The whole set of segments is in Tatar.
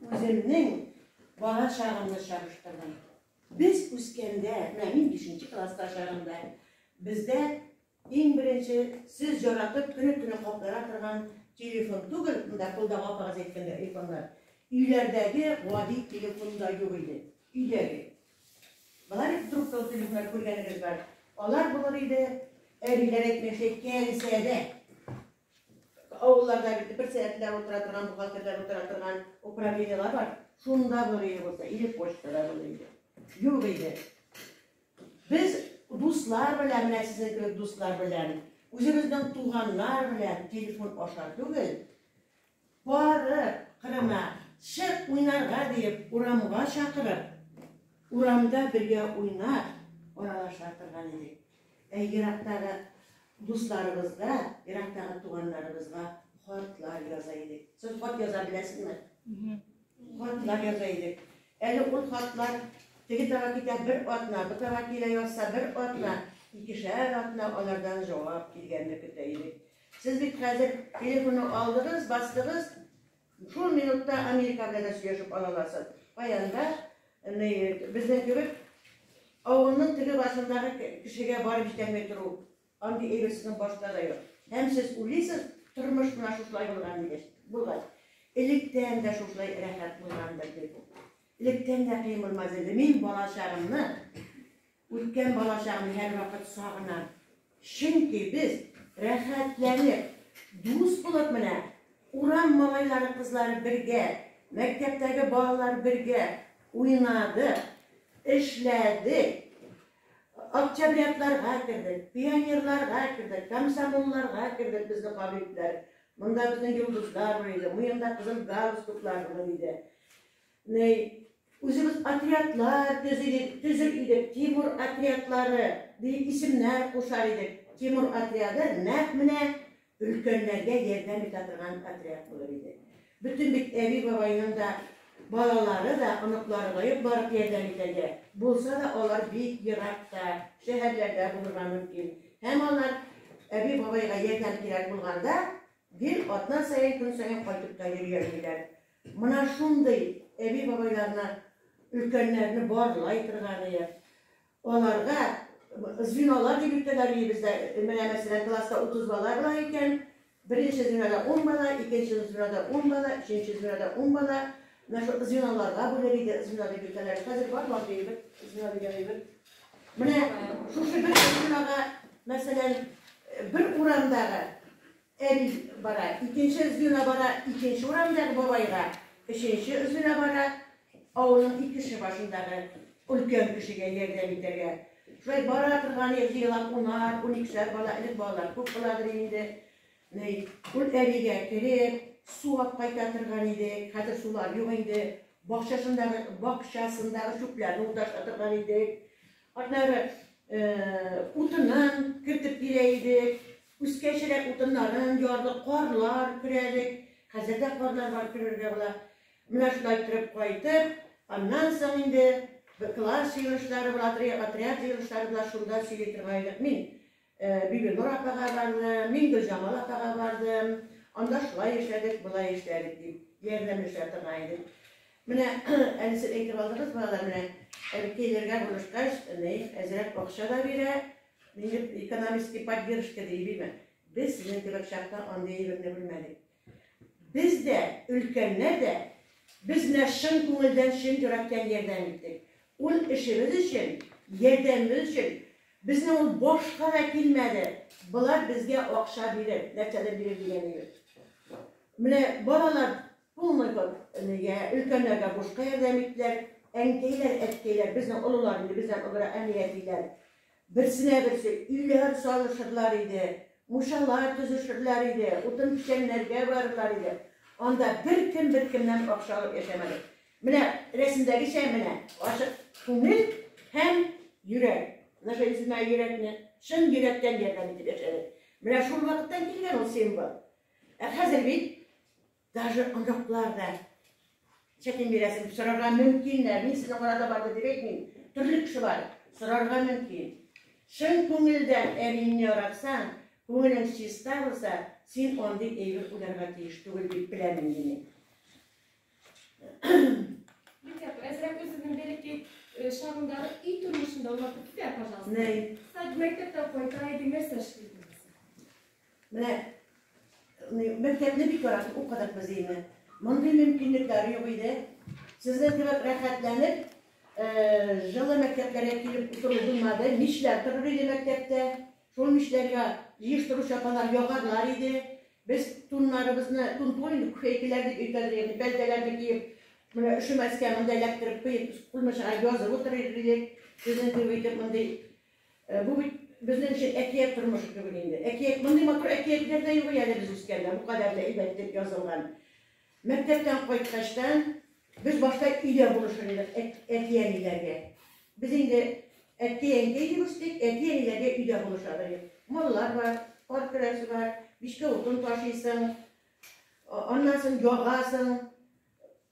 Үземнең бала чагымны чагыштырдым. Без үскәндә, менә мин 5 класста чагында, бездә иң беренче сез яратып көне-көне каплана торган телефон түгел, монда кулда апагыз әйткәндә айфоннар. Өйләрдәге гади телефон да юк иде. Өйдәге. Болар бит трубкалы телефоннар күргәнегез бар. Алар булыр иде, әбиләр әйтмешә, кәнсәдә. Авылларда бит бер сәгатьләп утыра торган, бухгалтерлар утыра торган управлениеләр бар. Шунда булыр иде булса, или почтада булыр иде. Юк иде. Без дуслар белән, менә сезнең кебек дуслар белән, үзебезнең туганнар белән телефон аша түгел, Барып, кырына, чык уйнарга, диеп урамга чакырып, урамда бергә уйнап, аралаша торган идек. Ә ерактагы дусларыбызга, ерактагы туганнарыбызга хатлар яза идек. Сез хат яза беләсезме? Хатлар яза идек. Әле ул хатлар теге тара китә бер атна, бу тара килә язса бер атна, икешәр атна алардан җавап килгәнне көтә идек. Сез бит хәзер телефонны алдыгыз, бастыгыз, шул минутта Америка белән дә сөйләшеп ала аласыз. Кая анда, ни, безнең кебек авылның теге башындагы кешегә барып җитәлмәй тору, андый әйбер сезнең башта да юк. Һәм сез уйлыйсыз, тормыш менә шушылай булган дигәч, булгач. Электән дә шушылай рәхәт булгандыр дип. Электән дә кыен булмас иде. Мин балачагымны Үткән балачакны һәрвакыт сагынам, чөнки без рәхәтләнеп, дус булып менә, урам малайлары-кызлары бергә, мәктәптәге балалар бергә уйнадык, эшләдек, октябрятларга кердек, пионерларга кердек, комсомолларга кердек, безне кабул иттеләр. Монда безнең йолдызлар бар иде, муенда кызыл галстуклар булыр иде. Ни, үзебез отрядлар төзидек, төзер идек, Тимур отрядлары дип исемнәр кушар идек. Тимур отряды нәкъ менә өлкәннәргә ярдәм итә торган отряд булыр иде. Бөтен бит әби-бабайның да балалары да, оныклары да юк барып ярдәм итәргә. Булса да, алар бик еракта, шәһәрләрдә булырга мөмкин. Һәм алар әби-бабайга ярдәм кирәк булганда, гел атна саен, көн саен кайтып та йөри алмыйлар. Мына шундый әби-бабайларына өлкәннәрне барлай торган иде. Аларга звеналар дип йөртәләр иде бездә. Менә мәсәлән, класста 30 бала бар икән, беренче звенода 10 бала, икенче звенода 10 бала, өченче звенода 10 бала. Менә шул звеналарга бүләр иде, звено дип йөртәләр. Хәзер бар бар диелер, звено дигән әйбер. Менә шушы бер звенога, мәсәлән, бер урамдагы Әби бара, икенче звено бара, икенче урамдагы бабайга, өченче звено бара, авылның икенче башындагы өлкән кешегә ярдәм итәргә. Шулай бара торган ел җыелап унар, уникешәр бала, элек балалар күп буладыр инде. Ни, ул әбигә кереп, сулап кайта торган иде. Хәзер сулар юк инде. Бакчасындагы, бакчасындагы чүпләрне уташа торган идек. Аннары э, утынын кертеп бирә идек. Үскән чиләк утыннарын ярдык, карлар көрәдек. Хәзер дә карлар бар, көрергә була. Менә шулай торып кайтып, аннан соң инде класс җыелышлары була, отряд җыелышлары була, шунда сөйли торган идек. Мин Бибинур апага бардым, мин Гөлҗамал апага бардым. Анда шулай эшләдек, болай эшләдек дип, ярдәмләшә торган идек. Менә әле сез әйтеп алдыгыз, балалар, менә әбекәйләргә булышкач, Наиф әзрәк акча да бирә, Минем экономический поддержка ди бимә. Без сезнең кебек чакта андый әйберне белмәдек. Без дә, өлкәннәр дә, без менә чын күңелдән, чын йөрәктән ярдәм иттек. Ул эшебез өчен, ярдәмебез өчен. Безнең ул башка да килмәде. Болар безгә акча бирер, нәрсәдер бирер дигәне юк. Менә балалар Булмый бу. Нигә? Өлкәннәргә бушка ярдәм иттеләр. Әнкәйләр, әткәйләр, безнең олылар инде бездән олырак әни, әтиләр. Берсенә берсе өйләр салышырлар иде, мушалар төзешерләр иде, утын печәннәргә барырлар иде. Анда беркем беркемнән акча алып яшәмәде. Менә рәсемдәгечә менә ачык күңел һәм йөрәк. Менә шул исемнәге йөрәкне чын йөрәктән ярдәм итеп яшәде. Менә шул вакыттан килгән ул символ. Ә хәзер бит даже оныклар да чәкен бирәсен дип сорарга мөмкиннәр. Мин сезне карата барды дип әйтмим. Төрле кеше бар, сорарга мөмкин. Чын күңелдән әбиеңне яратсаң, күңелең чиста булса, син андый әйбер уйларга тиеш түгел дип беләм инде мин. Әзрәк үзеңнең бәләкәй э, чагыңдагы өй тормышында аңлатып китә, пожалуйста. Нәй. Мәктәптән кайта идең, нәрсә эшли идең? Менә мәктәпне бик яратып укыдык без инде. Мондый мөмкинлекләр юк иде. Сезнең кебек рәхәтләнеп, җылы мәктәпләргә килеп утыру булмады. Мичләр торыр иде мәктәптә. Шул мичләргә җыештыручы апалар ягарлар иде. Без туннарыбызны, тун түгел инде, күфәйкәләр дип өйдән ягъни пәлтәләрне киеп, менә өшемәскә монда эләктереп куеп, кулмычыга язып утырыр идек. Сезнең кебек итеп мондый Ә бу бит безнең өчен әкият тормышы кебек инде. Әкият, мондый матур әкиятләр дә юк и әле без үскәндә, бу кадәр дә әйбәт итеп язылган. Мәктәптән кайткачтан, без башта өйдә булышыр идек әти-әниләргә. Без инде әткәй-әнкәй дип үстек, әти-әниләргә өйдә булышабыз идек. Маллар бар, кар көрәсе бар, мичкә утын ташыйсың, аннан соң ягасың,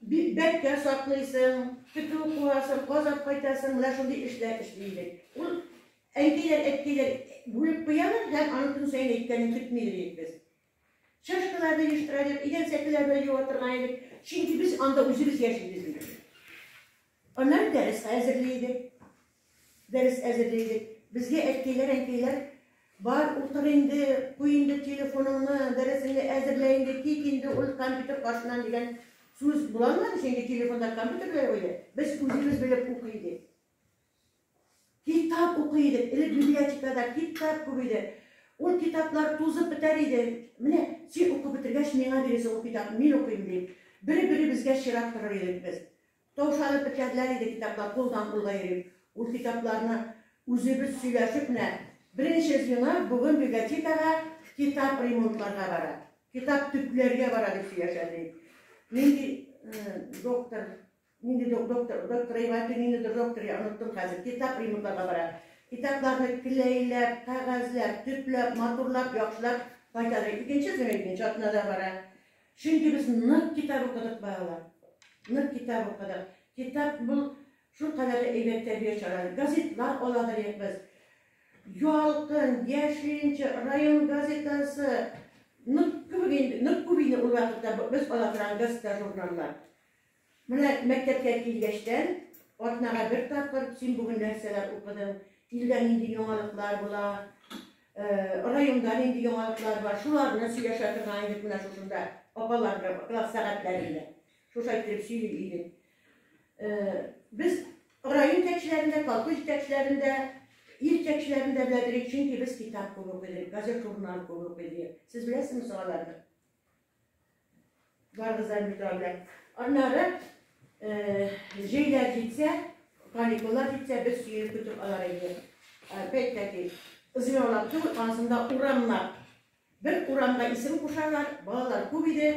Бик бәбкә саклыйсың, көтү куасың, казап кайтасың, менә шундый эшләр эшли идек. Ул әнкәйләр, әткәйләр бүлеп куялар һәм аның көн саен әйткәнен көтми йөри идек без. Чашкаларны җыештыра идек, идән сәкеләрне юа торган идек, чөнки без анда үзебез яшибез иде. Аннары дәрескә әзерли идек. Дәрес әзерли идек. Безгә әткәйләр, әнкәйләр, бар, утыр инде, куй инде телефоныңны, дәресеңне әзерлә инде, кит инде ул компьютер каршыннан дигән сүз була алмады, чөнки телефонда компьютер дә юк иде. Без үзебез белеп укый идек. Китап укый идек. Элек библиотекада китап күп иде. Ул китаплар тузып бетәр иде. Менә син укып бетергәч, миңа бирерсең ул китапны, мин укыйм дип. Бер-беребезгә чират торыр идек без. Таушалып беткәннәр иде китаплар, кулдан-кулга йөрим. Ул китапларны үзебез сөйләшеп кенә Беренче звено бүген библиотекага китап ремонтларга бара, китап төпләргә бара дип сөйләшә, ди. Нинди доктор, нинди доктор, доктор Ривати, ниндидер доктор, я оныттым хәзер, китап ремонтларга бара. Китапларны клейләп, кәгазьләп, төпләп, матурлап, яхшылап кайтарып, икенче звено икенче атнада бара. Чөнки без нык китап укыдык, балалар. Нык китап укыдык. Китап бу шул кадәр дә әйбәт тәрбия чаралары. Газетлар ала дидек без. Ялкын, Яшелчә, район газетасы. Нык күп инде, нык күп инде ул вакытта без ала торган газета-журналлар. Менә мәктәпкә килгәчтән, атнага бер тапкыр син бүген нәрсәләр укыдың, илдә нинди яңалыклар була, районда нинди яңалыклар бар, шуларны сөйләшә торган идек менә шушында, апалар белән класс сәгатьләрендә. Шуша иттереп сөйли идек. Без район җитәкчеләрендә, колхоз җитәкчеләрендә, ил җитәкчеләрендә беләдерик, чөнки без китап күп укыйдык, газет-журнал күп укыйдык. Сез беләсезме соң аларны? Барыгыздан бит алда. Аннары э, җәйләр җитсә, каникуллар җитсә, без сөенеп көтеп алар иде. Опять-таки, зыялап түгел, анысында урамлар. Бер урамга исем кушалар, балалар күп иде,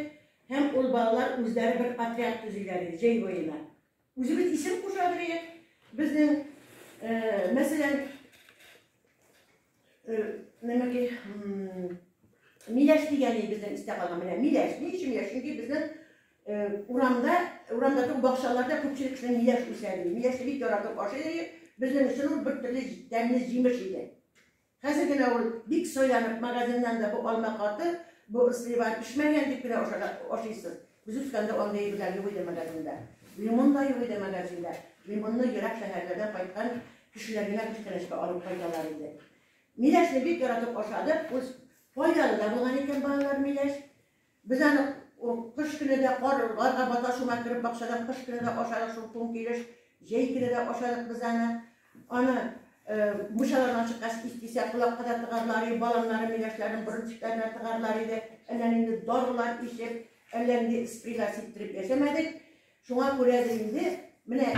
һәм ул балалар үзләре бер отряд төзиләр иде, җәй буена. Үзебез исем куша беләек. Безнең, э, мәсәлән, э, нәмәки, миләш дигән ил безнең истә калган. Менә миләш. Ни өчен миләш? Чөнки безнең э, урамда, урамда түгел, бакчаларда күпчелек кешенең миләш үсә. Миләшне бик яратып ашый. Безнең өчен ул бер төрле тәмле җимеш иде. Хәзер генә ул, бик сайланып, магазиннан да бу алма каты, бу слива пешмәгән дип кенә ашыйсыз. Без үскәндә андый әйберләр юк иде магазинда. Лимон да юк иде магазинда. Лимонны ерак шәһәрләрдән кайткан кешеләр генә күчтәнәчкә алып кайталар иде. Миләшне бик яратып ашадык. Ул файдалы да булган икән балалар миләш. Без аны кыш көне дә кар, гарга бата шуңа кереп бакчадан кыш көне дә ашадык шул туң килеш, җәй көне дә ашадык без аны. Аны мучаларын ачыккач ис кисә колакка да тыгарлар и баланнары миләшләрен борын тишекләренә тыгарлар иде. Әллә нинди дарылар ичеп, әллә нинди спрейлар сиптереп яшәмәдек. Шуңа күрә дә инде менә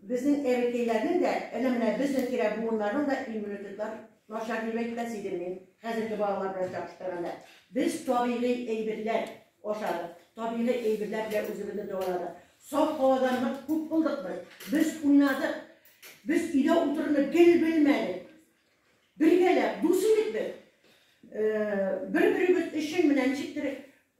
безнең әбекәйләрнең дә, әнә менә безнең тирә буыннарның да иммунитетлар начар дип әйтмәс идем мин, хәзерге балалар белән чагыштырганда. Без табигый әйберләр ашадык, табигый әйберләр белән үзебезне дәваладык. Саф һавадан нык күп булдык без. Без уйнадык. Без өйдә утыруны гел белмәдек. Бергәләп дус идек без. Бер-беребез өчен менә ничектер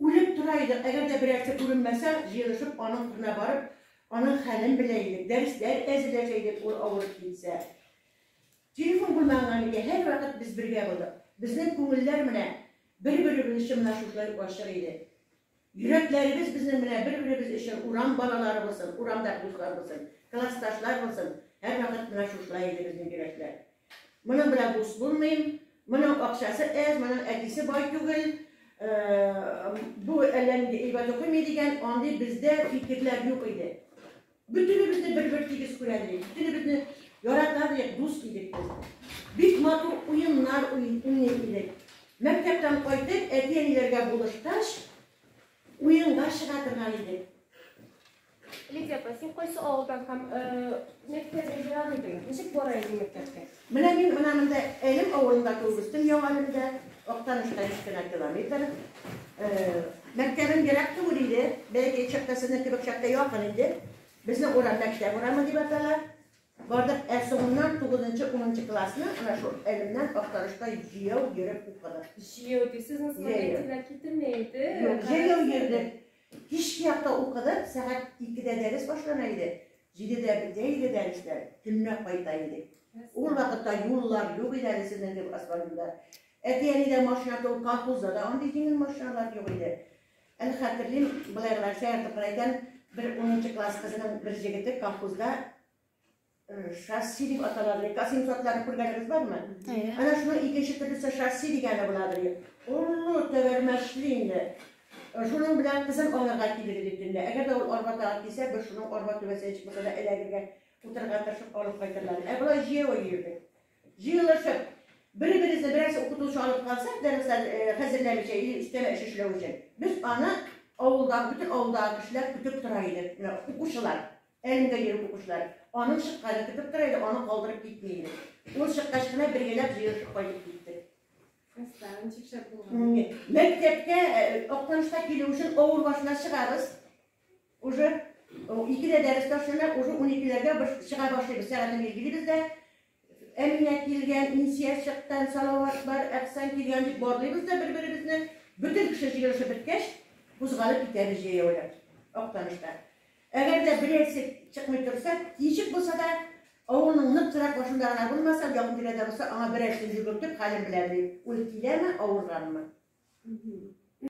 үлеп тора идек. Әгәр дә берәрсе күренмәсә, җыелышып аның кырына барып, аның хәлен белә идек. Дәресләр әзерләшә идек, ул авырып китсә. Телефон булмаганнан икән, һәрвакыт без бергә булдык. Безнең күңелләр менә бер-беребез өчен менә шушылай ачык иде. Йөрәкләребез безнең белән, бер-беребез өчен, урам балалары булсын, урамда дуслар булсын, классташлар булсын, һәрвакыт менә шушылай иде безнең йөрәкләр. Моның белән дус булмыйм, моның акчасы әз, моның әтисе бай түгел, бу әллә нинди әйбәт укымый дигән андый бездә фикерләр юк иде. Бөтенебезне бер-бер тигез күрә идек, бөтенебезне яратар идек, дус идек без. Бик матур уеннар уйный идек. Мәктәптән кайтып, әти-әниләргә булышкач, уенга чыга торган идек. Лидия апа, син кайсы авылдан һәм мәктәпкә бара идең? Ничек бара идең мәктәпкә? Менә мин менә монда Әлем авылында туып үстем, Яңа Әлемдә, Актаныштан өч кенә километр. Мәктәбем ерак түгел иде, бәләкәй чакта сезнең кебек чакта якын иде. Безнең урам Мәктәп урамы дип атала. Бардык, ә соңыннан тугызынчы, унынчы классны менә шул Әлемнән Актанышка җәяү йөреп укыдык. Җәяү дисез, нысматый әтиләр китермәй иде. Җәяү йөрдек. Кичке якта укыдык, сәгать икедә дәрес башлана иде, җидедә бетә иде дәресләр, төнлә кайта идек. Ул вакытта юллар юк иде әле сезнең кебек асфальтында. Әти-әнидә машина түгел, колхозда да андый җиңел машиналар юк иде. Әле хәтерлим, былай гына шаяртып кына әйтәм, бер унынчы класс кызының бер җегете колхозда Шасси дип аталады. Касин сортларын күргәнегез бармы? Әйе. Ана шуның икенче төрлесе шасси дигәне буладыр. Олы тәгәрмәчле инде. Шуның белән кызын алырга килегез дип төнлә. Әгәр дә ул арба тагып килсә, без шуның арба түбәсенә чыкмаса да эләгергә, утырырга тырышып алып кайтырлар. Ә болай җәяү йөрдек. Җыелышып, бер-беребезне берәрсе укытучы алып калса, дәресләр хәзерләмичә или өстәмә эш эшләү өчен, без аны авылдагы, бөтен авылдагы кешеләр көтеп тора идек, укучылар. Әлендә йөреп укучылар. Аның чыкканын көтеп тора иде, аны калдырып китми иде. Ул чыккач кына бер генәп җыелышып кайтып китте. Классларын ничек шәп булган. Мәктәпкә Актанышка килү өчен авыр машина чыгабыз. Уже икедә дәрес ташлана, уже уникеләргә без чыга башлыйбыз, сәгатен билгелибез дә, Әминә килгән, Инсия чыккан, Салават бар, Әпсән килгән дип барлыйбыз да бер-беребезне, бөтен кеше җыелышып беткәч, кузгалып китәбез җәяүләп Актаныштан. Әгәр дә берәрсе чыкмый торса, ничек булса да, авылның нык торак башында гына булмаса, якын тирәдә булса, аңа берәрсен йөгертеп, хәлен беләм, дим. Ул киләме, авырганмы?